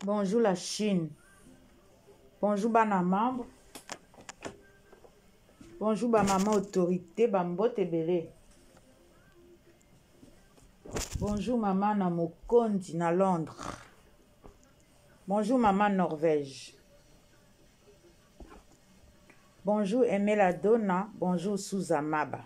Bonjour la Chine. Bonjour bana membre. Bonjour ba maman autorité ba mbote ebele. Bonjour maman na Mokondi na Londres. Bonjour maman Norvège. Bonjour Emela Dona, bonjour Souza Maba.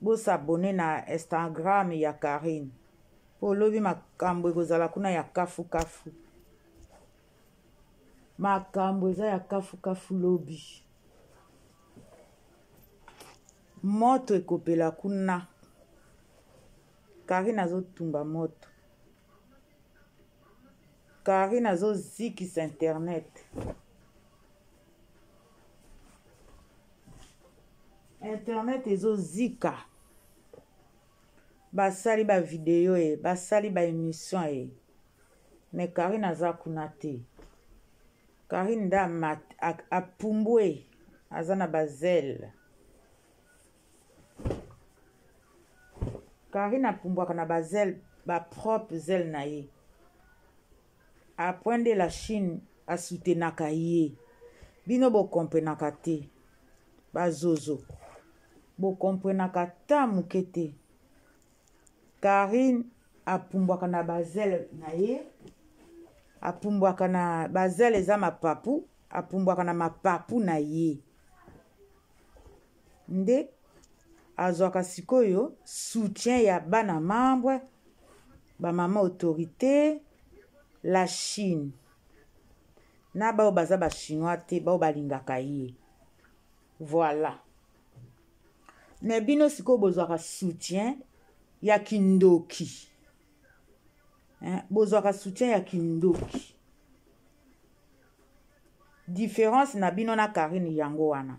Bo s'abonner na Instagram ya Carine. Po lobi makambo ekozala kuna ya kafu kafu. Makambo eza ya kafu kafu lobi. Moto ekopela kuna. Carine azotumba moto. Carine azozikisa internet. internet ezozika basali bavideo e basali baémission e me karine aza kuna te karine nde apumbwe aza na bazele karine apumbwaka na bazele bapropre zele na ye Apres nde la chine a soutenaka ye bino bo comprenaka te ba zozo bo comprenaka ata muke te Carine apumbwaka na ba zele na ye apumbwaka na ba zele eza mapapu apumbwaka na mapapu na ye nde azwaka sikoyo soutien ya bana membre ba mama autorité la chine na baoyo baza bachinois te baoyo balingaka ye voilà me bino sikoyo bozwaka soutien ya kindoki bozwaka soutien ya kindoki différence na bino na karine yango wana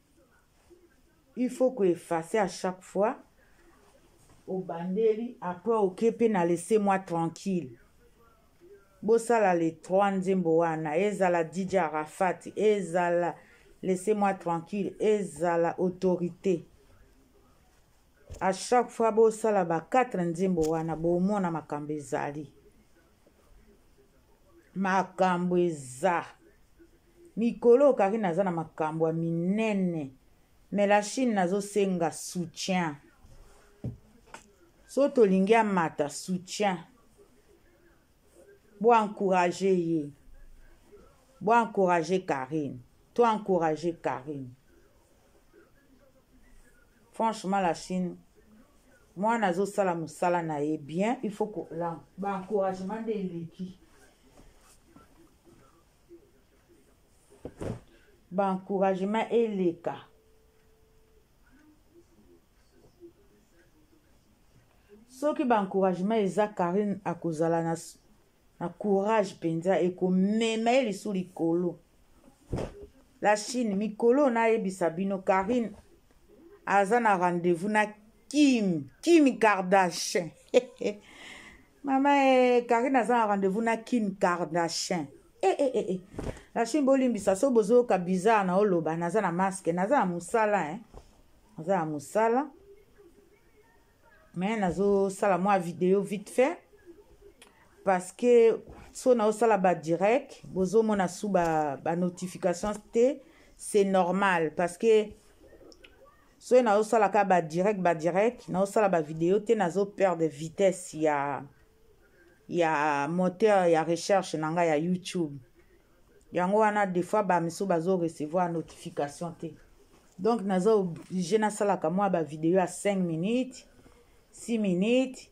il faut ko effacer à chaque fois obandeli après oke mpe na laisse moi tranquille bosala le 3 nzembo wana ezala dj arafat ezala laisse moi tranquille ezala autorité à chaque fois bosala ba 4 nzembo wana bomona makambo ezali makambo eza Mikolo oyo Carine aza na makambu ya minene mais la Chine nazo senga soutien so tolingi amata soutien bo encourage ye bo encourage Carine to encourage Carine franchement la Chine mwana azosala mosala na ye bien il faut ba encouragement nde eleki ba encouragement eleka soki ba encouragement eza karine akozala na, na courage mpenza ekomema ye lisu likolo la chine mikolo nayebisa bino karine aza na rendez-vous na kim kim kardashin Mama eh, Karine aza na rendez-vous na Kim Kardashian. Eh, eh, eh, eh. La Chine bolimbisa so bozoyoka bizarre na oloba naza na masque, naza na musala eh. Naza na musala. Mais nazo sala mwa video vite fait parce que so na osala ba direct bozomona su ba, ba notifications te c'est normal parce que soki nazosala kaka ba direct ba direct nazosala ba video te nazo perdre vitesse ya ya moteur ya recherche na ngai ya youtube yango wana des fois bamisusu bazo recevoir notification te donc naza oblige nasalaka mwa bavideo ya 5 minutes 6 minutes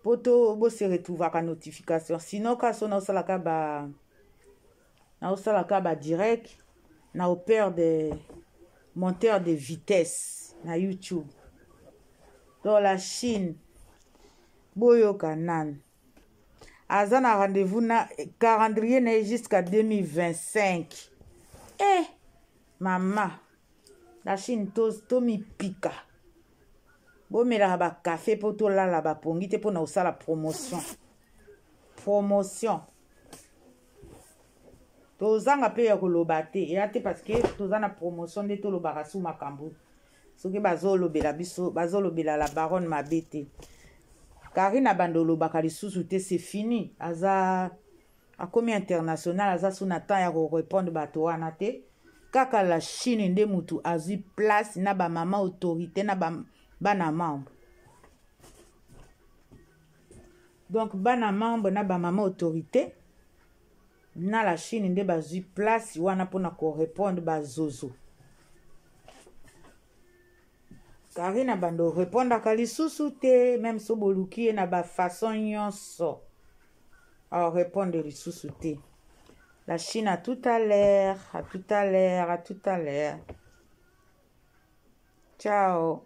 mpo to bose retrouvaka notification sinon ka so naosalaka ba naosala ka ba direct na opere de monteur de vitesse na youtube to la chine boyoka nanu aza na rendez-vous na calendrier na ye jusqu'à 2025 eh mama la chine tomipika to bomelaka bakafe mpo tolala bapongi te mpo na kosala promotion promotion tozanga mpe ya koloba te eya te parce que toza na promotion nde tolobaka su makambo soki bazolobela biso bazolobela la baronne mabe te karine abanda olobaka lisusu te c'est fini aza akomi international aza su na temps ya korepondre bato wana te kaka la chine nde motu azwi place na bamama autorité na bana membre donc bana membre na bamama autorité na la chine nde bazwi place wana mpona korepondre bazozo karina bando orepondaka lisusu te meme so boluki ye na bafaçon nyonso aorepondre lisusu te la chine à tout à l'heure à tout à l'heure à tout à l'heure ciao